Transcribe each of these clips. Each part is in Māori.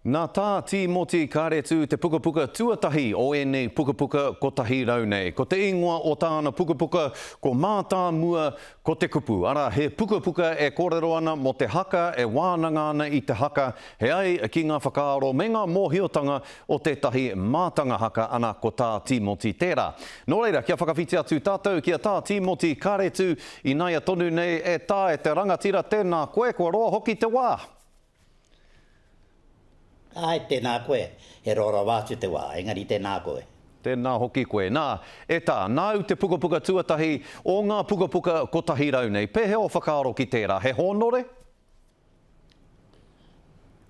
Nā Tā Tīmoti Kāretu te pukapuka tuatahi o ēnei pukapuka kotahi rau nei. Ko te ingoa o tāna pukapuka ko Mātāmua ko te Kupu, arā, he pukapuka e kōrero ana mō te haka e wānanga ana i te haka, he ai ki ngā whakaaro me ngā mōhiotanga o tētahi mātanga haka ana ko Tā Tīmoti tērā. Nō reira, kia whakawhiti atu tātou ki a Tā Tīmoti Kāretu, ināia tonu nei e Tā e te rangatira tēnā koe, kua roa hoki te wā! Āe, tēnā koe. He rōrawa atu te wā, engari tēnā koe. Tēnā hoki koe. Nā, e tā, nāu te pukapuka tuatahi o ngā pukapuka kotahi rau nei. Pēhea o whakaaro ki tērā? He hōnore?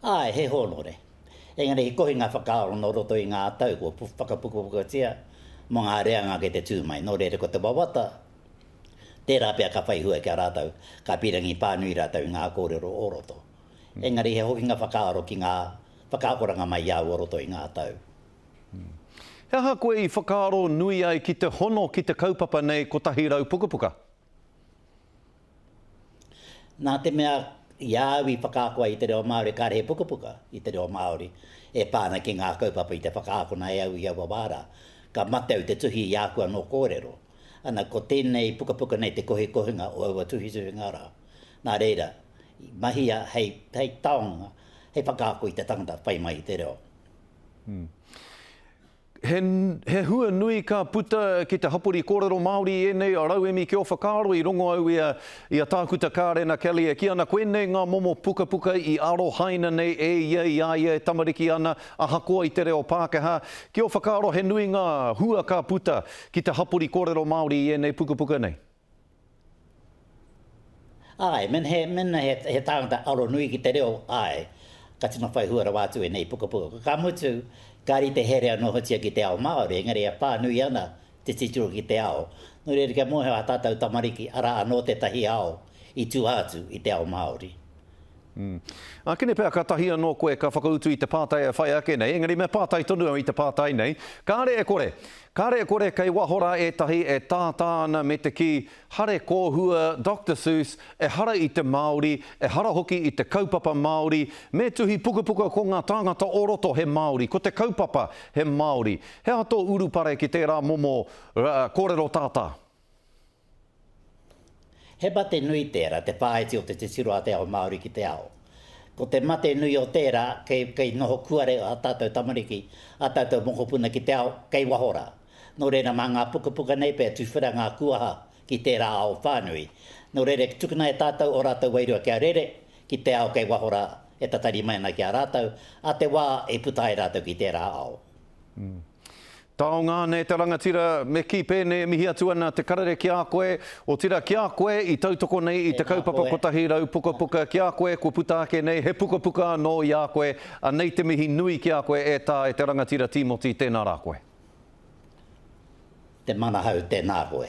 Āe, he hōnore. Engari he kohinga whakaaro nō roto i ngā tau kua whakapukapukatia mō ngā reanga kei te tū mai. Nō reira, ko te wawata, Tērā pea ka whai hua ki a rātou, ka pīrangi pānui rātou i ngā kōrero o roto. Engari he hokinga whakaaro ki ngā whakaakoranga mai i a au o roto i ngā tau. He aha koe i whakaaro nui ai ki te hono ki te kaupapa nei 100 pukapuka? Nā te mea i a au i whakaako ai i te reo Māori kāre he pukapuka i te reo Māori e pā ana ki ngā kaupapa i te whakaakona e au i aua wā rā. Ka mate au te tuhi i āku anō kōrero. Ana, ko tēnei pukapuka nei te kohikohinga o aua tuhituhinga rā. Nā reira, i mahia hei taonga, hei whakaako i te tangata whai mai i te reo. He, he hua nui ka puta ki te hapori kōrero Māori i ēnei rauemi ki ō whakaaro i rongo au i a, i a Tākuta Kārena Kelly e kī ana koinei ngā momo pukapuka i arohaina nei e ia i a ia e tamariki ana ahakoa i te reo Pākehā. Ki ō whakaaro he nui ngā hua ka puta ki te hapori kōrero Māori i ēnei pukapuka nei? Āe, mēnā he tāngata aro nui ki te reo, āe, ka tino whai hua rawa atu ēnei pukapuka. Ka mutu, ka rite here anōhotia ki te ao Māori, engari e pānui ana te titiro ki te ao. Nō reira, kia mōhio ā tātou tamariki, arā anō tētahi ao i tua atu i te ao Māori. Ākene pea kātahi anō koe ka whakautu i te pātai e whai ake nei, engari me pātai tonu au i te pātai nei, kāre e kore. Kāre e kore kei waho rā ētahi e tātā ana me te kī, hare kōhua Doctor Seuss, ehara i te Māori, ehara hoki i te kaupapa Māori, me tuhi pukapuka ko ngā tāngata o roto he Māori, ko te kaupapa he Māori. He aha tō urupare ki tērā momo kōrero tātā? He mate nui tērā, te whāiti o te titiro a te ao Māori ki te ao. Ko te mate nui o tērā, kei, kei noho kuare ā tātou tamariki, ā tātou mokopuna ki te ao, kei waho rā. Nō reira, mā ngā pukapuka nei pea tuwhera ngā kuaha ki tērā ao whānui. Nō reira, tukuna e tātou ō rātou wairua kia rere ki te ao kei waho rā, e tatari mai ana ki a rātou, ā te wā i puta ai rātou ki tērā ao. Taonga ana e te rangatira, me kī pēnei e mihi atu ana te karere ki a koe, otirā ki a koe i tautoko nei i te kaupapa kotahi rau pukapuka ki a koe kua puta ake nei he pukapuka anō i a koe, anei te mihi nui ki a koe e tā e te rangatira Tīmoti tēnā rā koe. Te Manahau tēnā koe.